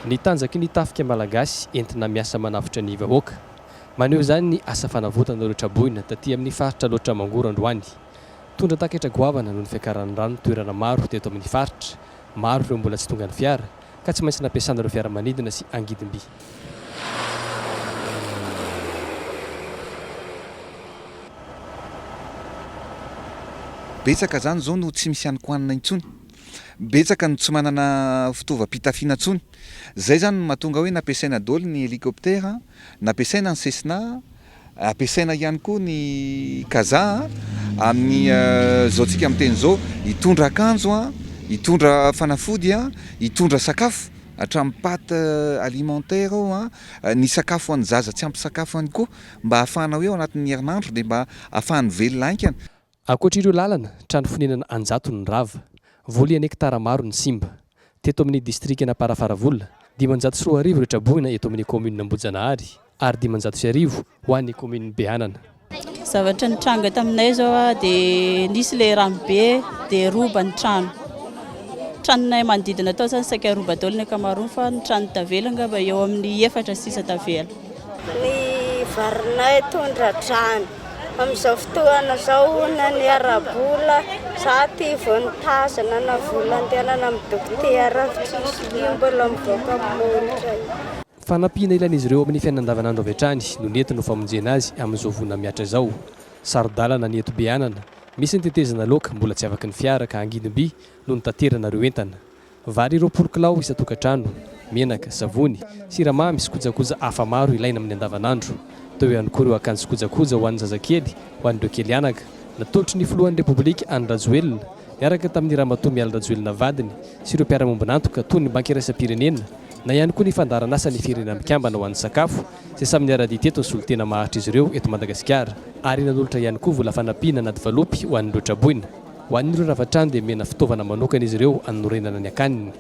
Ny tanjaky ny tafika malagasy entina miasa manavotra ny vahoaka. Maneho izany ny asa fanavotana ireo traboina taty amin'ny faritra Alaotra Mangoro androany. Tondra-taketra goavana noho ny fiakaran'ny rano toerana maro teto amin'ny faritra. Maro ireo mbola tsy tonga ny fiara. ka tsy maintsy nampiasana ireo fiaramanidina sy angidim-by. Betsaka izany izao no tsy misy hanin-kohanina intsony. Betsaka no tsy manana fitaovam-pitafiana intsony. Izay izany no mahatonga hoe nampiasaina daholo ny helicoptère, nampiasaina ny Cessna. Ampiasaina ihany koa ny kazaha amin'ny zao tsika miteny zao hitondra akanjo, hitondra fanafody, hitondra sakafo hatramin'ny pate alimentaire ao ny sakafo hoan'ny zaza tsy ampy sakafo ihany koa mba hahafahana hoe ao anatin'ny herinandro dia mba hahafahany velona haingana. Ankoatr'ireo lalana, trano fonenana an-jatony ny rava, voly an' hektara maro ny simba. Teto amin'ny distrikan'Amparafaravola, dimanjato sy roa arivo ireo traboina eto amin'ny kaominina Ambohijanahary ary dimanjato sy arivo ho an'ny kaominin'i Beanana. Zavatra nitranga taminay izao dia nisy ilay rano be dia roba ny trano. Tranonay manodidina tao izany saika roba daholo ny ankamaroany fa ny tranon'ny tavela angamba eo amin'ny efatra sisa tavela. Ny varinay tondra-drano. Amin'izao fotoana izao na ny ara-bola, za ty vao nitazana na vola andehanana amin'ny dokotera aho tsisy, io mbola mivoaka amin'ny molotra io. Fanampiana ilain'izy ireo amin'ny fiainana andavanandro avy hatrany no nentiny ho famonjena azy amin'izao voina mihatra izao. Saro-dalana ny eto Beanana, misy ny tetezana loaka mbola tsy afaky ny fiara ka angidimby no nitaterana ireo entana. Vary roapolo kilao isan-tokantrano, menaka, savony, siramamy sy kojakoja hafa maro ilaina amin'ny andavanandro. Teo ihany koa ireo akanjo sy kojakoja ho an'ny zazakely, ho an'ireo kely anaka. Natolotry ny filohan'ny Repoblika Andry Rajoelina, niaraka tamin'i Ramatoa Mialy Rajoelina vadiny sy ireo mpiara-mombon'antoka toy ny Banky Iraisam-pirenena na ihany koa ny Fandaharanasan'ny Firenena Mikambana ho an'ny sakafo izay samy niara-dia teto ny solontena maharitra izy ireo eto Madagasikara ary nanolotra ihany koa vola fanampiana anaty valopy ho an'ireo traboina. Ho an'ireo lavatrano dia omena fitaovana manokana izy ireo hanorenana ny akaniny.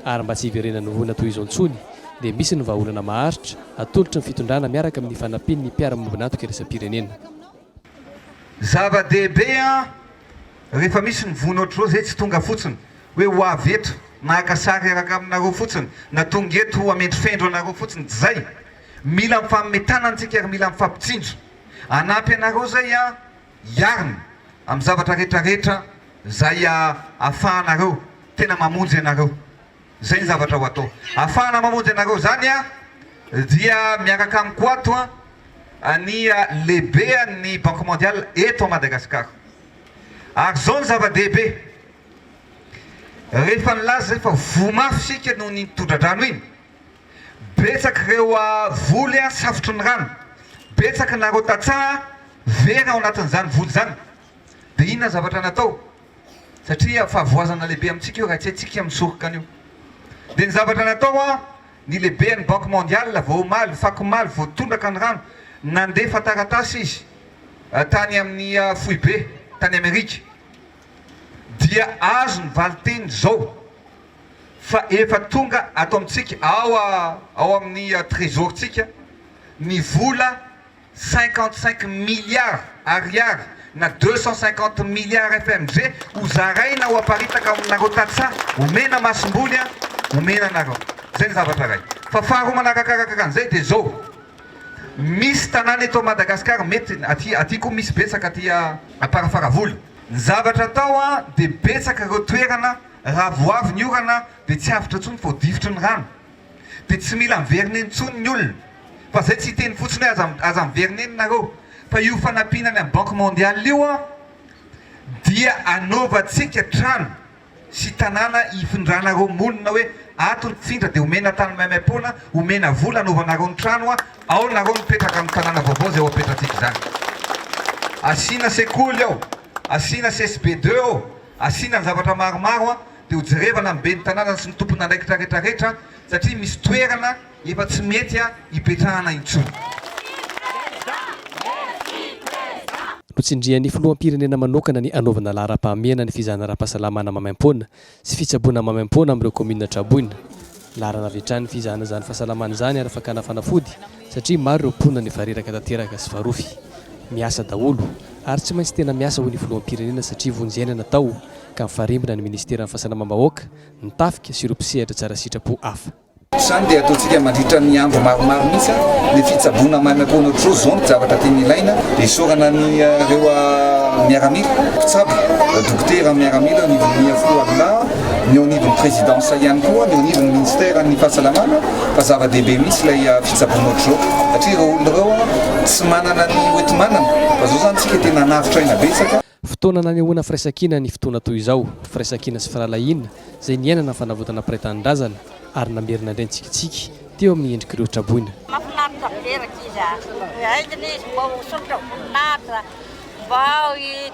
Ary mba tsy hiverenan'ny olana toy izao intsony dia misy ny vahaolana maharitra atolotry ny fitondrana miaraka amin'ny fanampian'ny mpiara-miombon'antoka iraisam-pirenena. Zava-dehibe an! Rehefa misy ny vono ohatr'izao izay tsy tonga fotsiny hoe ho avy eto naka sary hiaraka aminareo fotsiny na tonga eto hamendrofendro anareo fotsiny tsy izay. Mila mifanome tanana isika ary mila mifampitsinjo. Hanampy anareo izay an! hiarina amin'ny zavatra rehetra rehetra izay ahafahanareo tena mamonjy anareo. Izay ny zavatra ho atao. Ahafahana mamonjy anareo izany dia miaraka amiko ato ny lehibean'ny Banque Mondiale eto Madagasikara. Ary izao no zava-dehibe, rehefa nilaza izay fa voa mafy isika noho iny tondra-drano iny, Betsaka ireo voly safotry ny rano, betsaka nareo tantsaha very ao anatin'izany voly izany, dia inona ny zavatra natao? satria fahavoazana lehibe amintsika io raha tsy haintsika misoroka an'io, dia ny zavatra natao an, ny lehiben'ny banky mondiale vao omaly, fako omaly vao tondraka ny rano, nandefa taratasy izy tany amin'ny foibe tany Amerika, dia azo ny valinteny izao. fa efa tonga ato amintsika ao ao amin'ny trezorintsika ny vola cinquante cinq milliards ariary na deux cent cinquante milliards FMG ho zaraina ho aparitaka aminareo tantsaha omena masomboly an omena anareo zay ny zavatra iray fa faharoa manarakarakaka an'izay dia zao misy tanàna eto Madagasikara mety aty aty koa misy betsaka aty Amparafaravola ny zavatra atao an dia betsaka ireo toerana Raha vao avy ny orana dia tsy avotra intsony vao difotry ny rano. Dia tsy mila miverina eny intsony ny olona. Fa izay tsy hiteny fotsiny hoe aza aza miverina eny nareo. Fa io fanampiana any amin'ny banque mondiale io dia anaovantsika trano sy tanàna hifindranareo monina hoe ato ny tsindra dia omena tany maimaimpoana, omena vola anaovanareo ny trano ao nareo mipetraka amin'ny tanàna vaovao izay ho apetratsika izany. Asiana sekoly ao, asiana CSB deux ao. Asiana ny zavatra maromaro dia ho jerevana ny ben'ny tanàna sy ny tompon'andraikitra retraretra satria misy toerana efa tsy mety hipetrahana intsony. Notsindrian'ny Filoham-pirenena manokana ny hanaovana laharam-pahamehana ny fizahana ara-pahasalamana maimaim-poana sy fitsaboana maimaim-poana amin'ireo kaominina traboina. Laharana avy hatrany ny fizahana izany fahasalamana izany ary fakana fanafody satria maro ireo mponina no efa reraka tanteraka sy farofy. Miasa daholo ary tsy maintsy tena miasa hoy ny filoham-pirenena satria vonjena natao ka mifarimbona ny minisiteran'ny fahasalamam-bahoaka, ny tafika sy ireo mpisehatra tsara sitrapo hafa. Izany dia ataontsika mandritra ny andro maromaro mihitsy ny fitsaboana maimaimpoana tro zao ny zavatra tena ilaina dia isaorana an'ireo miaramila mpitsabo, dokotera miaramila ny minia fo Allah. ny au niveau ny présidence ihany koa ny au niveau ny ministère ny fahasalamana fa zava-dehibe mihitsy ilay ah, fitsaboana ohatr'izao satria ireo olona ireo ah, tsy manana ny hoenti-manana fa zao zany tsika tena anavotra aina betsaka Fotoana nanehoana firaisankina ny fotoana toy izao, firaisankina sy firahalahiana izay niainana fanavotana mpiray tanindrazana ary namerina indray ny tsikitsiky teo amin'ny endrik'ireo traboina. Mafinaritra be rankizy a! Haingana izy mba ho sosotra voninahitra, mba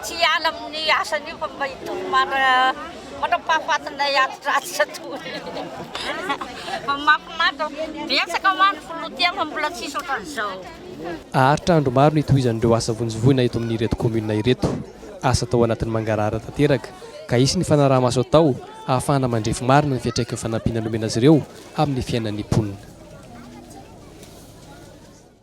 tsy hiala amin'ny asany io fa mba hitory mandra-pahafatinay atitr'atitra toy fa mafinaritra, betsaka mantsy ny filoha teo fa mbola tsisy ohatran'izao. Haharitra andro maro ny hitohizan'ireo asa vonjivoina eto amin'ireto kaominina ireto. Asa atao anatin'ny mangarahara tanteraka ka hisy ny fanaraha-maso atao ahafahana mandrefy marina ny fiantraikin'ny fanampiana nomena azy ireo amin'ny fiainan'ny mponina.